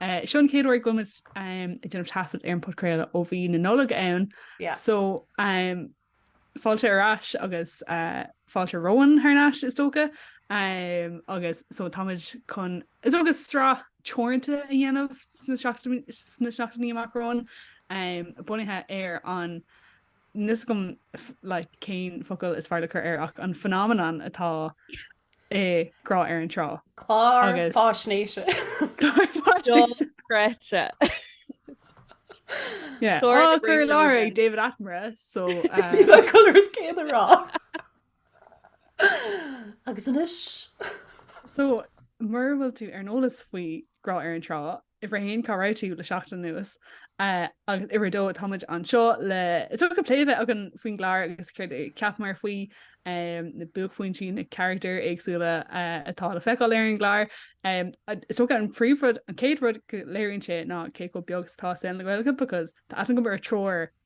Seo an chéad uair go mbeimid ag déanamh taifead ar an bpodchraoladh ó bhí an Nollaig ann so fáilte ar ais agus fáilte romhainn thar n-ais is dócha agus so táimid chun is dócha sraith teoranta a dhéanamh sna seachtainí amach romhainn bunaithe ar an níl fhios agam cén focal is fearr le cur air ach an phenomenon atá é grá ar an trá. Clár faisnéise. Curtha i láthair ag David Attenborough so chuir céad a rá. Agus anois? So mura bhfuil tú ar an eolas faoi grá ar an trá Uimhir a haon, cá raibh tú le seachtain anuas? Agus uimhir a dó, táimid anseo le is dócha plé a bheith againn faoin gclár agus céard a cheapamar faoi na buaicphointí na carachtair éagsúla atá le feiceáil ar an gclár. Is dócha an príomhrud an chéad rud go léiríonn sé ná cé chomh beag is atá saol na Gaeilge because tá aithne agam ar thriúr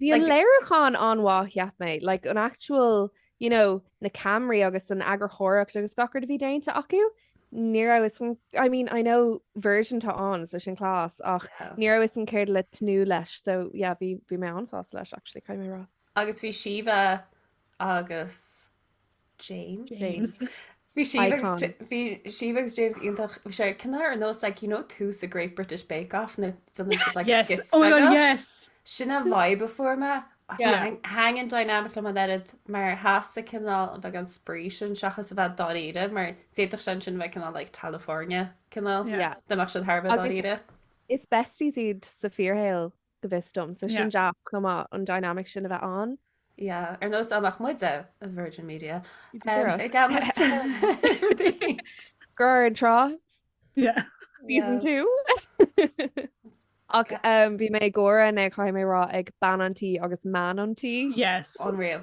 Bhí an léiriúchán an-mhaith cheap mé, like an actual you know na cameraí agus an eagarthóireacht agus gach rud a bhí déanta acu, ní raibh fhios agam, I mean I know Virgin tá ann so sin class ach ní raibh fhios agam céard le tnúth leis so yeah bhí mé an-sásta leis actually caithfidh mé a rá. Agus bhí Síomha agus James. James. Bhí Síomh agus J- Icons. bhí Síomh agus James iontach. Bhí sé cineál ar nós like, you know, tús an Great British Bake Off nó something just like Yes. skits Oh my beaga. god, yes. Sin an vibe a fuair mé. Yeah. Thaitin an dynamic liom an oiread mar theastaigh cineál a bheith an spraoi sin seachas a bheith dáiríre mar d'fhéadfadh sé ansin a bheith cineál like Californication cineál. Yeah. Dá mbeadh siad thar a bheith Agus- dáiríre. Is besties iad sa fíorshaol go bhfios dom. So sin deas chomh maith an dynamic sin a bheith ann. Yeah, ar nós dá mba muide Virgin Media. Grá ar an Trá? Yeah. Season 2? Ach bhí mé ag gáire caithfidh mé a rá ag bean an tí agus man an tí. Yes. Unreal.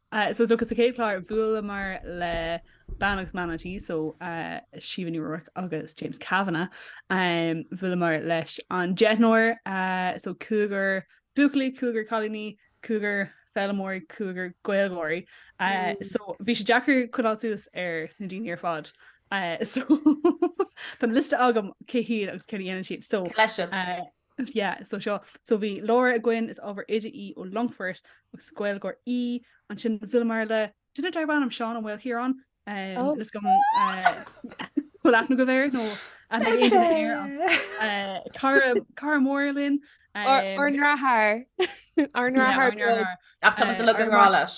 Eh so is dócha sa chéad chlár bhuaileamar le bean agus man an tí so eh Síomha Ní Ruairc agus James Kavanagh. Em bhuaileamar leis an deichniúr eh so cúigear buachaillí, cúigear cailíní, cúigear foghlaimeoirí, cúigear Gaeilgeoirí. Eh so bhí sé deacair coinneáil suas ar na daoine ar fad. Eh so tá an liosta agam cé hiad agus céard a dhéanann siad so. Cé leis siad? Eh. Yeah, so seo. So bhí Laura againn, is ábhar oide í ó Longfort agus Gaeilgeoir í. Ansin bhuaileamar le duine darb ainm Seán Ó Maoilchiaráin um, oh. is dóigh go bhfuil aithne go bhéir nó cara mór linn ár ndeartháir ár ndeartháir ach tá le an rá leis.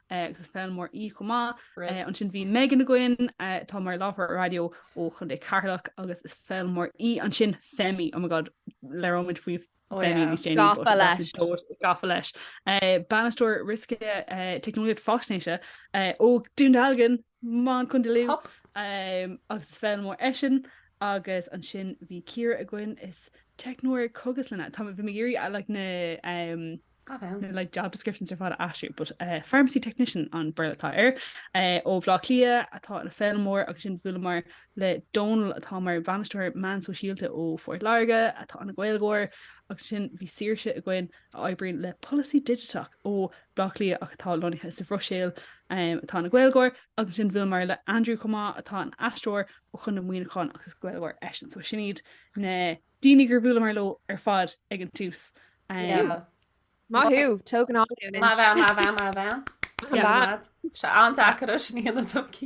agus is foghlaimeoir í chomh maith. Rud. Ansin bhí Megan againn, atá mar láithreoir raidió ó Chontae Cheatharlach agus is foghlaimeoir í ansin. Femi, oh my god, labhróimid faoi Femi níos déanaí. Oh yeah, gafa leis. Gafa leis. Bainisteoir Riosca Teicneolaíocht Faisnéise ó Dún Dealgan. Um ó Chontae Lú agus is foghlaimeoir eisean agus ansin bhí Ciara againn is teicneoir cógaslainne tá bhí mé ag iarraidh like na Cad é an? like job descriptions ar fad a aistriú but pharmacy technician an Béarla atá air ó Bhleá Cliath atá ina foghlaimeoir agus sin bhuaileamar le Dónal atá mar bhainisteoir meán sóisialta ó Phort Láirge atá ina Gaeilgeoir agus sin bhí Saoirse againn a oibríonn le polasaí digiteach ó Bhleá Cliath ach atá lonnaithe sa Bhruiséil, atá ina Gaeilgeoir, agus ansin bhuaileamar le Andrew chomh maith atá ina aisteoir ó Chondae Mhuineacháin agus is Gaeilgeoir eisean so sin iad na daoine gur bhuaileamar leo ar fad ag an tús. Yeah. Maith thú, tóg anáil anois. Maith bhean, maith bhean, maith bhean. Maith bhean. Tá sé an-deacair a sníanana tumcí.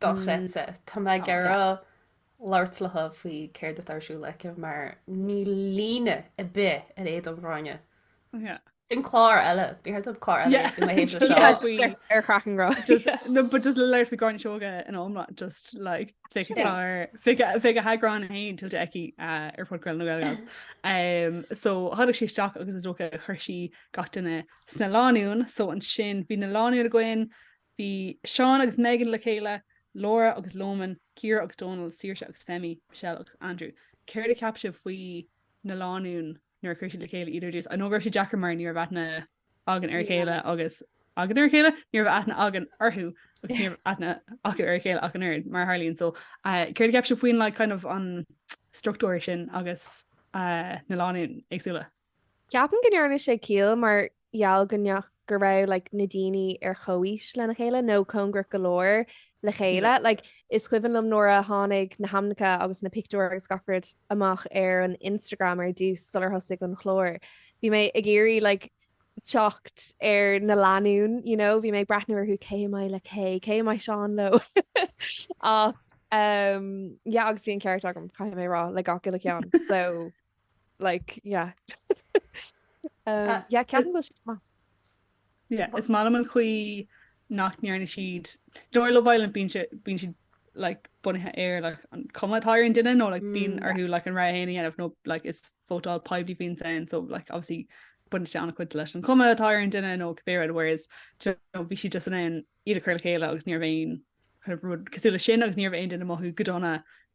dochreidte. Tá mé ag iarraidh labhairt léithi faoi céard atá ar siúl aici mar níl líne ar bith ar éadan Ghráinne. Sin clár eile, bhí thart an clár eile i mo thaobh seo. Yeah, faoi- Just ar- ar chraic an ghrá. Just, no but just le labhairt faoi Gráinne Seoige in iomlán, just like fé Yeah. clár, fé fé go heagrán héin tuillte aici uh, ar phodchraoladh na Gaelgals. Um, so tháinig sí isteach agus is dócha chuir sí gach duine sna lánúin, so ansin bhí na lánúin againn Bhí Seán agus Megan le chéile, Laura agus Loman, Ciara agus Dónal, Saoirse agus Femi, Michelle agus Andrew. Céard a cheap sibh faoi na lánúin nuair a chuir sí le chéile iad ar dtús? I know go raibh sé deacair mar ní raibh aithne againn ar a chéile agus againn ar a chéile, ní raibh aithne againn orthu agus ní raibh aithne acu ar a chéile ach an oiread mar tharlaíonn. So céard a cheap sibh faoin like kind of an struchtúr sin agus na lánúin éagsúla? Ceapaim go ndearna sé ciall mar gheall go ndeach go raibh like na daoine ar chomhaois lena chéile nó cóngarach go leor le chéile. Like is cuimhin liom nuair a tháinig na hainmneacha agus na pictiúir agus gach rud amach ar an Instagram ar dtús sular thosaigh an chlár. Bhí mé ag iarraidh like teacht ar na lánúin you know. Bhí mé ag breathnú orthu cé a mbeidh le cé, cé a mbeidh Seán leo. Ach umm yeah agus bhí an ceart agam caithfidh mé a rá le gach uile ceann so. Like, yeah. Yeah, ceapaim go bhfuil siad maith. Yeah, is maith liom an chaoi nach ndearna siad, you know ar Love Island bíonn siad like bunaithe ar like an cuma atá ar an duine nó like bíonn orthu like an rogha héin a dhéanamh nó like is vótáil poiblí a bhíonns ann so like obviously baineann sé an-chuid leis an cuma atá ar an duine nó cibé rud whereas bhí siad just in ann iad a chur le chéile agus ní raibh aon rud cosúil leis sin agus ní raibh aon duine ag mothú go dona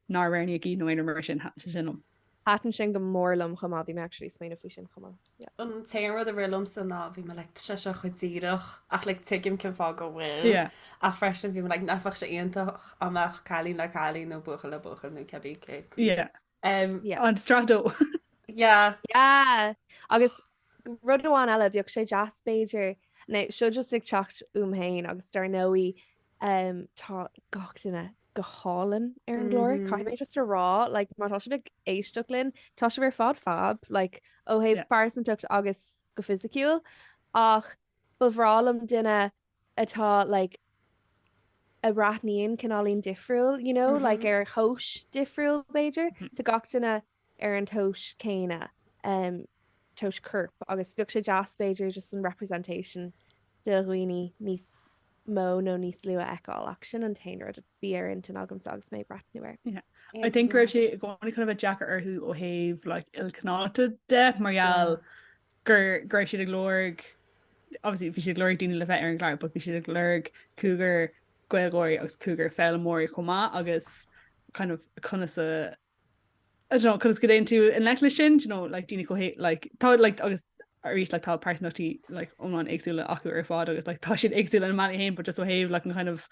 nár roghnaíodh iad nó aon rud mar sin. Thaitin sé sin liom. Thaitin sin go mór liom chomh maith. Bhí mé actually ag smaoineamh faoi sin chomh maith. Yeah. An t-aon rud a rith liomsa ná bhí mé like tá sé seo chomh díreach ach like tuigim cén fáth go bhfuil. Yeah. Ach freisin bhí mé like nach mbeadh sé iontach dá mbeadh cailín le cailín nó buachaill le buachaill nó cibé cé acu. Yeah. Ar sraith a dó. Yeah. Agus rud amháin eile, bheadh sé deas b'fhéidir, now seo just ag teacht uaim féin agus dar ndóigh tá gach duine go hálainn ar an gclár, caithfidh mé just a rá like má tá sibh ag éisteacht linn, tá sibh ar fad fab like ó thaobh pearsantachta agus go fisiciúil ach ba bhreá liom duine atá like a bhreathnaíonn cineáilín difriúil you know like ar thomhas difriúil b'fhéidir. Tá gach duine ar an tomhas céanna em tomhas coirp agus bheadh sé deas b'fhéidir just an representation de dhaoine níos mó nó níos lú a fheiceáil ach sin an t-aon rud a bhí ar intinn agamsa agus mé ag breathnú air. Yeah I think go raibh sé i gcónaí chun a bheith deacair orthu ó thaobh like ilchineálacht de mar gheall gur, go raibh siad ag lorg, obviously bhí siad ag lorg daoine le bheith ar an gclár but bhí siad ag lorg cúigear Gaeilgeoirí agus cúigear foghlaimeoirí chomh maith agus kind of conas a I don't know, conas go ndéanann tú a leithéid sin, do you know, like daoine chomh hé- like tá like agus arís like tá pearsantachtaí like iomlán éagsúla acu ar fád agus like tá siad éagsúla in a mbealaí fhéin but just ó thaobh like an kind of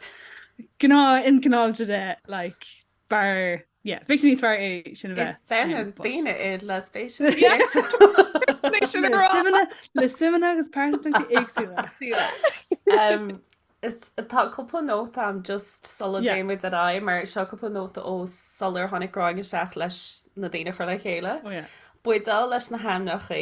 gnáth ilchineálacht de like Fear, yeah, ficsean níos fearr é sin a bheith. Is deimhin daoine iad le spéiseanna. Le suimeanna agus pearsantachtaí éagsúla. Tá cúpla nóta a'm just sula dtéimid ar aghaidh mar seo cúpla nóta ó sular tháinig Gráinne isteach leis na daoine a chur le chéile. Buideál leis na hainmneacha.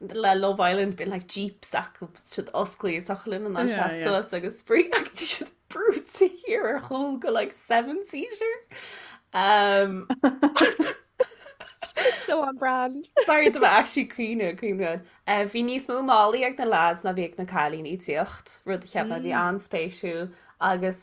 le Love Island bíonn like jeeps acu agus siad oscailte is osclaíonn an áit as suas agus spraoi agus tá siad brúite thiar ar chúl go like seven seater um so on brand sorry bhí mé actually ag caoineadh ag caoineadh uh, bhí níos mó málaí ag na lads ná bhí ag na cailíní ag tíocht rud a cheap mé a bhí an-spéisiúil agus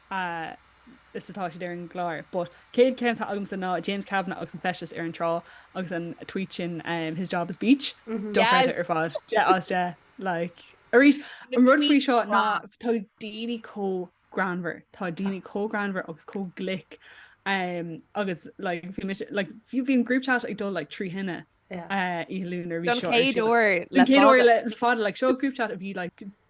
a fhad 's atá siad ar an gclár. But an chéad cheann atá agamsa ná James Kavanagh agus an feisteas ar an trá agus an tweet sin his job is beach. Dochreidthe ar fad. Deich as deich. Like, arís, an rud faoi seo ná tá daoine chomh greannmhar. Tá daoine chomh greannmhar agus chomh glic agus like bhí mise like bhí an group chat ag dul like trí thine oíche Luain nuair a bhí seo. Don chéad uair le fada. Don chéad uair le fada like seo group chat a bhí like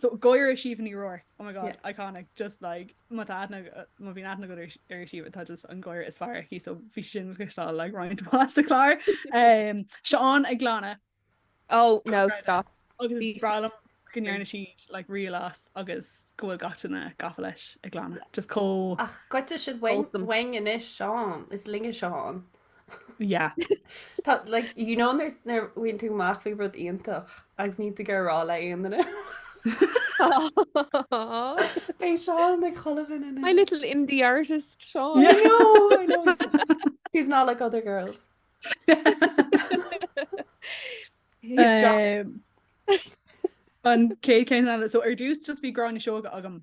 so gáire Síomha Ní Ruairc oh my god iconic just like má tá aithne má bhíonn aithne agat ar Síomha tá just an gáire is fearr aici so bhí sin le cloisteáil like roinnt mhaith sa chlár. Seán ag glanadh. Oh no stop. Agus is breá liom go ndearna siad like reel as agus go bhfuil gach duine gafa leis ag glanadh just chomh. Ach goidfidh siad uainn anois Seán is linne Seán. Yeah. Tá like, you know, nuair nuair a bhfaigheann tú amach faoi rud iontach agus níl tú ag iarraidh a rá le aon duine. B'é Seán ag cholamhan in My little indie artist Seán. I know, I know. He's, he's not like other girls. He's just- Um, an chéad cheann so ar dtús just bhí Gráinne Seoige agam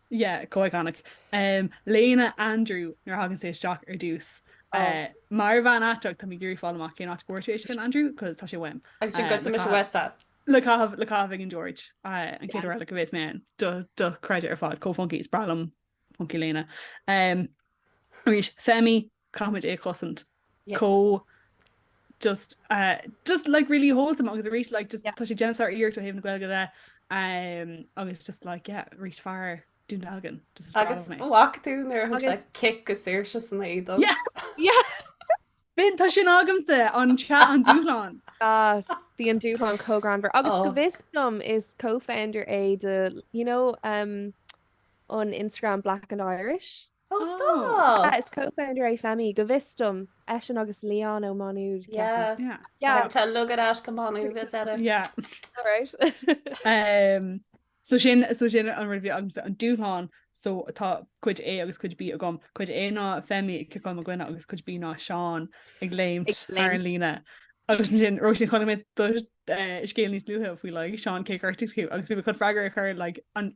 Yeah, chomh iconic. Em, léine Andrew, nuair a thagann sé isteach ar dtús. Oh. Eh, mar bhean aiteach, tá mé ag iarraidh fáil amach cén áit a bhfuair tú é sin, Andrew, 'cause tá sé uaim. Agus sin Eh, goidfidh mise caitheamh- uaitse. Le caitheamh, le caitheamh ag an George. Eh, an chéad uair eile a bheas mé ann. Do, dochreidte ar fad, chomh funky, is breá liom funky léine. Em, arís, Femi, caithfimid é a chosaint. Chomh just just like really wholesome agus arís like just tá sé ag déanamh sáriarracht ó thaobh na Gaeilge de um, agus just like yeah arís fear Dún Dealgan agus bhfaca tú nuair le cic do Saoirse san éadan Bhíon tá sin agamsa an te an dúshlán Bhí an dúshlán chomh greannmhar agus oh. go bhfios dom is co-founder é de you know um, on Instagram Black and Irish. Ó stop! Ea is co-founder é Femi, go bhfios dom, eisean agus Leon ó Mhá Nuad, ceapaim. Yeah. Yeah. Tá tá lugad ait go Má Nuad ag deireadh. Yeah. Alright. Em, so sin, so sin an rud a bhí agam, so an dúshlán, so tá cuid A agus cuid B agam. Cuid A ná Femi ag ciceáil mo dhuine agus cuid B ná Seán ag léimt Ag léimt. ar an líne. Agus ansin, Róisín, chonaic mé do eh, scéal níos luaithe faoi like, Seán cé a ghortaigh thú agus bhí mé chun freagra a chur like, an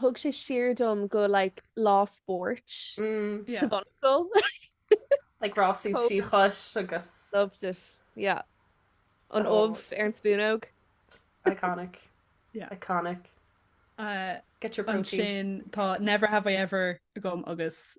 thug sé siar dom go like lá spóirt sa bhunscoil like rásaí trí chois agus loved it yeah an ubh ar an spúnóg iconic yeah iconic uh, get your protein sin tá never have I ever agam agus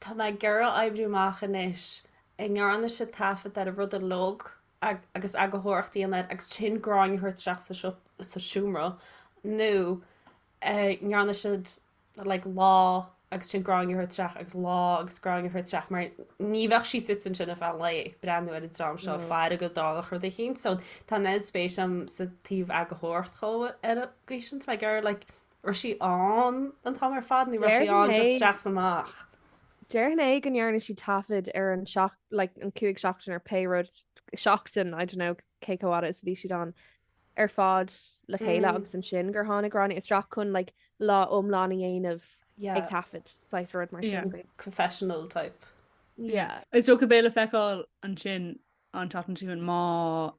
Tá mé ag iarraidh oibriú amach anois an ndearna siad taifead ar an rud uilig agus eagarthóireacht a dhéanamh air agus ansin Gráinne a thabhairt isteach sa siopa, sa seomra nó an ndearna siad like lá agus ansin Gráinne a thabhairt isteach agus lá agus Gráinne a thabhairt isteach mar ní bheadh sí suite ansin ar feadh an lae ag breathnú ar an dream seo ag faire go dtarlódh rud eicínt. So tá an oiread spéis agam sa taobh eagarthóireacht dhó ar an gcaoi sin. Tá mé ag iarraidh like raibh sí ann an t-am ar fad nó raibh sí ann just isteach 's amach? Déarfainn é go ndearna siad taifead ar an seach like an cúig seachtain ar pé rud seachtain I dunno cé chomh fhada is a bhí siad ann ar fad le chéile Mm. agus ansin gur tháinig Gráinne isteach chun like lá iomlán a dhéanamh ag Yeah. taifead saghas rud mar Yeah. sin. Confessional type. Yeah. Is dócha beidh le feiceáil ansin an tseachtain seo chugainn má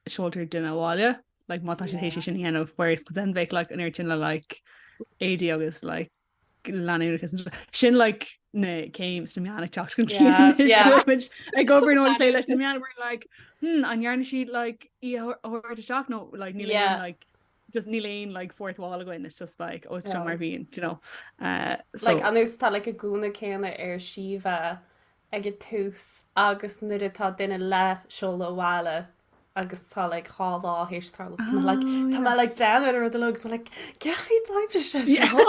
seoltar duine abhaile like má tá sé yeah. tar éis sin a dhéanamh whereas then bheith like an air sin le like éadaí agus like leanúnachas sin like n'fheadar táim sna meáin ag teacht ag obair nó ag plé leis na meáin like hmm an ndearna siad like í a thabhairt isteach nó like ní like just níl aon like fourth wall againn it's just like oh it's seo mar bhíonn do you know uh so like anois tá like an gúna céanna ar Síomha ag an tús agus nuair atá duine le seoladh abhaile agus tá like dhá lá th'éis tarlú so like tá mé like breathnú ar an rud a leo agus mé like cén chaoi d'oibrigh sé seo?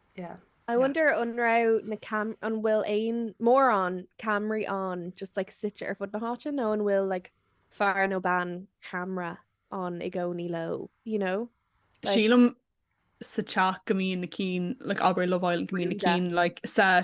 Yeah. I wonder an raibh na cam an bhfuil aon mórán camraí ann just like suite ar fud na háite nó an bhfuil like fear nó bean ceamara ann i gcónaí leo, you know? Like, Sílim sa teach go mbíonn na cinn like abair Love Island go mbíonn na Brúnda. cinn like sa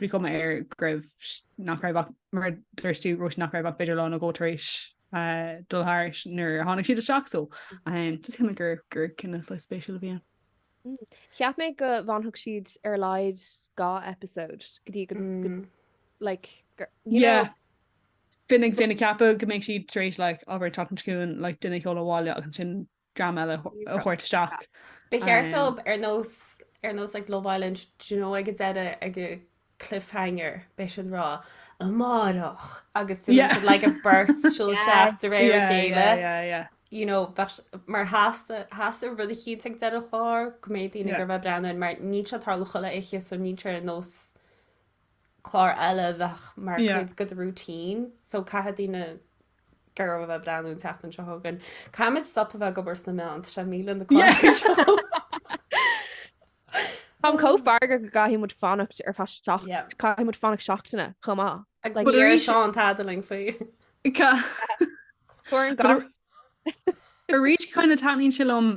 Bhí cuma air go raibh, nach raibh ach, mar a dúirt tú Róisín, nach raibh ach b'fhéidir lá nó dhó tar éis dul thairis nuair a tháinig siad isteach so just cineál gur gur cinneadh saghas spéisiúil a bhí ann. Cheap mé go bhfanfadh siad ar a laghad dhá episode go dtí go like gur you know. Yeah. Bhí mé ag ceapadh go mbeidh siad tar éis like abair an tseachtain seo chugainn like duine a sheoladh abhaile agus ansin dream eile a thabhairt isteach. Ba cheart dóibh ar nós ar nós like Love Island do you know ag an deireadh ag an cliffhanger beidh siad rá Amárach agus do bheidh siad like a beirt siúl isteach de réir a chéile you know mar theastaigh theastaigh rud eicínt ag deireadh an chláir go mbeidh daoine ag iarraidh a bheith ag breathnú mar níl sé tarlú chuile oíche so níl sé ar nós clár eile a bheadh mar cuid de do routine so caithfidh daoine ag iarraidh a bheith ag breathnú an tseachtain seo chugainn. Caithfimid stop a bheith ag obair sna meáin, tá sé ag milleadh na cláirsigh seo. Táim chomh feargach go gcaithfidh muid fanacht ar feadh seacht, Yep. caithfidh muid fanacht seachtaine chomh maith. Agus Like, níor arís- seo an t-ad linn faoi. Ca- Tabhair an But a- gas. Arís kind of taitníonn sé liom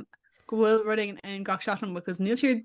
go bhfuil rud éigin ann gach seachtain because níl siad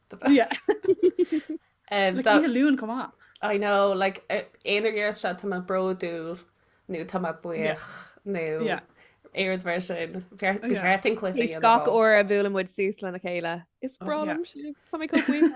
Oíche Luain chomh maith. I know, like aon uair a ndeir siad tá mé bródúil nó tá mé buíoch nó aon rud mar sin. Ba cheart ba cheart dúinn cluiche dhéanamh ann. Gach uair a bhuaileann muid suas lena chéile, is breá liom sibh, tá mé chomh buíoch.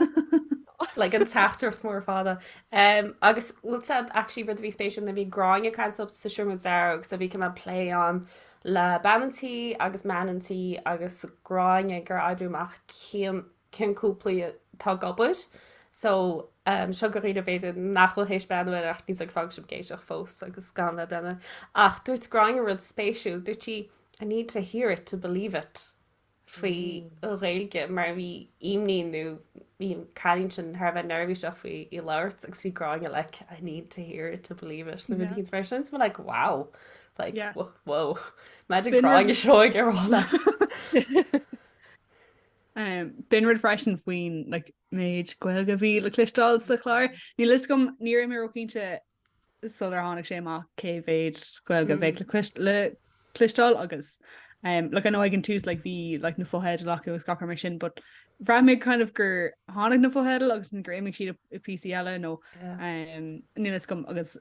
Like an teachtaireacht mór fada. Agus bhfuil a fhios agat actually rud a bhí spéisiúil nuair a bhí Gráinne ag caint leo sa Seomra Dearg so bhí cineál plé ann le bean an tí agus mean an tí agus gráinne gur oibriú amach cén cén cúplaí atá ag gabháil, so em seo do dhaoine b'fhéidir nach bhfuil théis breathnú ar ach níos ag fágáil sibh Géiseach fós agus gan bheith breathnú air ach dúirt gráinne rud spéisiúil dúirt sí I need to hear it to believe it faoi Ghaeilge mar a bhí imní nó bhí an cailín sin thar a bheith neirbhíseach faoi í labhairt agus bhí Gráinne like I need to hear it to believe it nó rud mar sin. Bhí mé like wow like wow maith thú Gráinne seo í ár maith leat. B'in rud freisin faoin like méid Gaeilge a bhí le cloisteáil sa chlár. Níl fhios agam, ní raibh mé róchinnte sular tháinig sé amach cé mhéid Gaeilge a bheadh le cuis- le cloisteáil agus um, like, I know ag an tús like, bhí like, na fotheidil acu agus gach rud mar sin, but bhraith mé kind of gur tháinig na fotheidil agus ansin gur imigh siad i- i PC eile nó Yeah. um, níl a fhios agam agus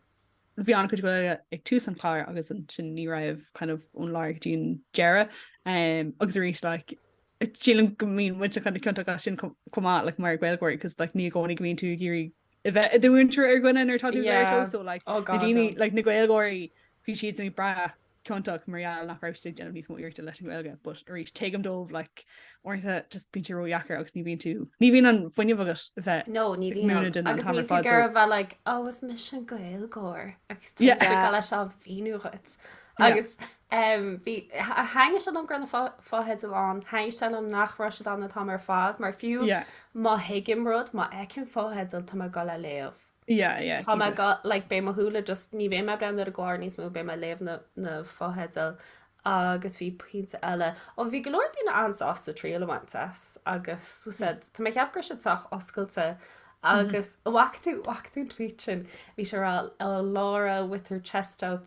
bhí an chuid Gaeilge ag tús an chláir agus ansin ní raibh kind of ón lár go dtí an deireadh um, agus arís like, sílim go mbíonn muid uilig ciontach as sin com- chomh maith like, mar Ghaeilgeoir, cos like, ní i gcónaí go mbíonn tú ag iarraidh a bheith i do mhúinteoir ar dhaoine nuair atá tú you know so like na daoine like na Gaeilgeoirí bhí siad ní ba chiontaí mar gheall nach raibh siad ag déanamh níos mó iarrachta leis an Ghaeilge but arís tuigim dóibh like ar ndóigh just bíonn sé ródheacair agus ní bhíonn tú ní bhíonn an fuinneamh agat a bheith nó ní bhíonn agus níl tú ag iarraidh bheith like ó is mise an Gaeilgeoir agus tá leis á bhíú dhuit agus Em, bhí, tha- thaitin sé liom go raibh na fo- fotheidil ann, thaitin sé liom nach raibh siad ann an t-am ar fad, mar fiú Yeah, má thuigim rud, má fheicim fotheidil, tá mé ag dul a léamh. yeah, yeah, Tá mé ag cinnte. dul, like, beidh mo shúile just, ní bheidh mé ag breathnú ar an gclár níos mó, beidh mé ag léamh na, na fotheidil. Agus bhí pointe eile, ó bhí go leor daoine an-sásta triail a bhaint as, agus so Hmm. sea, tá mé ag ceapadh go raibh siad sách oscailte, Mhm. agus an bhfaca tú, bhfaca tú an tweet sin, bhí sé ag rá, oh, Laura with her chest out,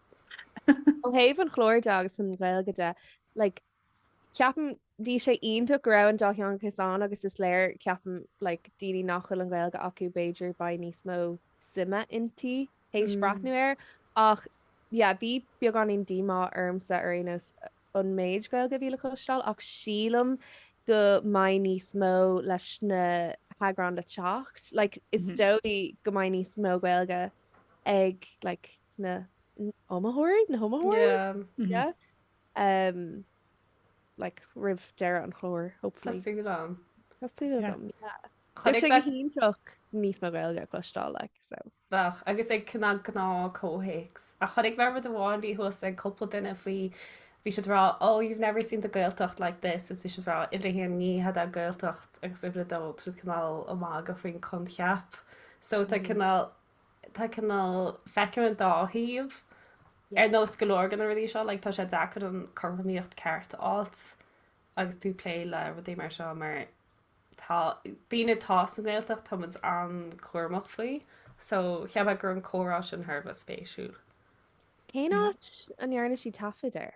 Ó thaobh an chláir de agus an Ghaeilge de, like, ceapaim bhí sé iontach go raibh an dátheangachas ann agus is léir, ceapaim, like, daoine nach bhfuil an Ghaeilge acu b'fhéidir beidh níos mó suime inti théis breathnú air ach, yeah, bhí beagáinín díomá ormsa ar aon nós an méid Gaeilge a bhí le cloisteáil ach sílim go mbeidh níos mó leis na heagráin le teacht, like, is dóigh go mbeidh níos mó Gaeilge ag, like, na n-iomaitheoirí, na hiomaitheoirí? Yeah. Yeah. Um, like, roimh deireadh an chláir, hopefully. Tá súil agam. Tá súil agam, yeah. Bheadh sé go hiontach níos mó Gaeilge a chloisteáil, like, so. Bheadh, agus i gcineál gnáth-chomhthéacs. Ach chonaic mé rud amháin, bhí thuas ag cúpla duine faoi, bhí siad ag rá, oh, you've never seen the Gaeltacht like this, is bhí siad ag rá, uimhir a haon ní hé an Ghaeltacht, agus uimhir a dó, tá siad cineál, oh, ag magadh faoin choincheap. So tá cineál. tá cineál, feicim an dá thaobh ar nós go leor de na rudaí seo, like tá sé deacair an chothromaíocht cheart a fháilt agus tú ag plé le rudaí mar seo mar tá, daoine atá sa nGaeltacht, tá muid an-chúramach faoi so cheapas go raibh an comhrá sin thar a bheith spéisiúil. Cén áit a ndearna sí taifead air?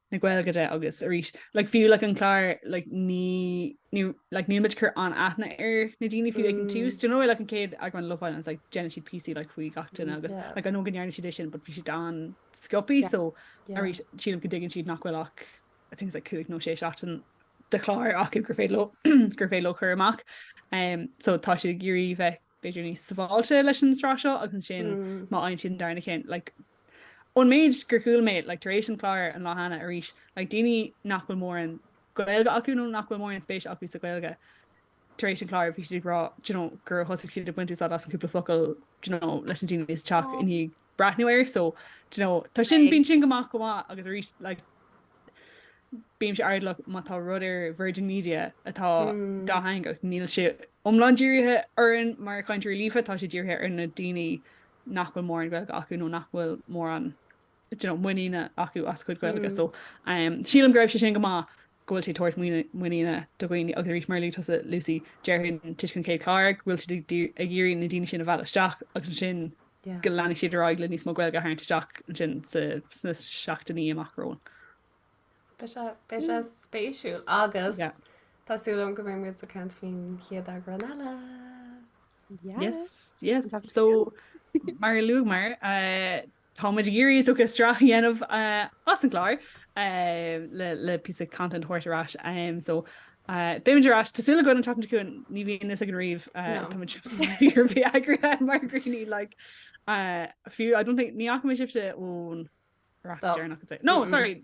na Gaeilge de agus arís like fiú like an clár like ní ní like níl muid cur an aithne ar na daoine fiú ag an túús d'you know like an chéad eagrán Love Island like déanann siad VT like faoi gach duine agus like I know go ndearna siad é sin but bhí siad an-sciobtha so arís sílim go dtuigeann siad nach bhfuil ach I think like cúig nó sé seachtain de chláir acu gur féidir gur féidir leo a chur amach um so tá siad ag iarraidh bheith b'fhéidir níos sábháilte leis an sraith seo agus ansin má fhaigheann siad an darna ceann like ón méid gur chuala mé like tar éis an chláir an lá cheana arís like daoine nach bhfuil mórán Gaeilge acu nó nach bhfuil mórán spéise acu sa Ghaeilge tar éis an chláir bhí siad ag rá do you know gur thosaigh siad ag baint úsáid as an cúpla focal do you know leis na daoine sa teach i ndiaidh breathnú air so d'you know tá sin bíonn sin go maith go maith agus arís like bímse airdeallach má tá rud ar Virgin Media atá dátheangach níl sé iomlán dírithe orainn mar chainteoirí líofa tá sé dírithe ar na daoine nach bhfuil mórán Gaeilge acu nó nach bhfuil mórán d'you know muiníne acu as a chuid Gaeilge so sílim go raibh sé sin go maith go bhfuil sé ag tabhairt muiníne do dhaoine agus arís mar a luaigh tusa Lucy déarfainn toisc gurb é an chéad chlár go bhfuil siad ag iarraidh na daoine sin a mhealladh isteach agus ansin go leanfaidh siad ar aghaidh le níos mó Gaeilge a tharraingt isteach ansin sna seachtainí amach romhainn. Beidh sé spéisiúil agus tá súil agam go mbeidh muid ag caint faoin chéad eagrán eile. Yes yes so mar a luaigh mé Táimid ag iarraidh, is dócha, sraith a dhéanamh as an gclár le píosa content a thabhairt ar ais. So beimid ar ais, tá súil againn an tseachtain seo chugainn, ní bhíonn a fhios againn riamh, táimid fíor-eagraithe mar dhaoine like fiú I don't think, ní fhaca mé sibhse ón. No, sorry.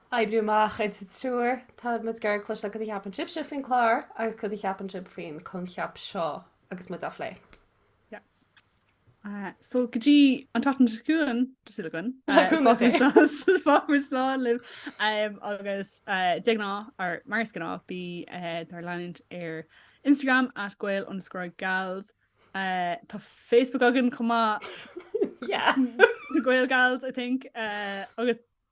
Oibriú amach idir triúr. Tá muid ag iarraidh cloisteáil cad a cheapann sibhse faoin clár agus cad a cheapann sibh faoin coincheap seo agus muid á phlé. Yeah. So go dtí an tseachtain seo chugainn, tá súil againn, fágfar slán libh agus de ghnáth, or mar is gnáth, bí dár leanúint ar Instagram at gael_gals. Tá Facebook againn chomh maith, yeah, gaelgals I think, agus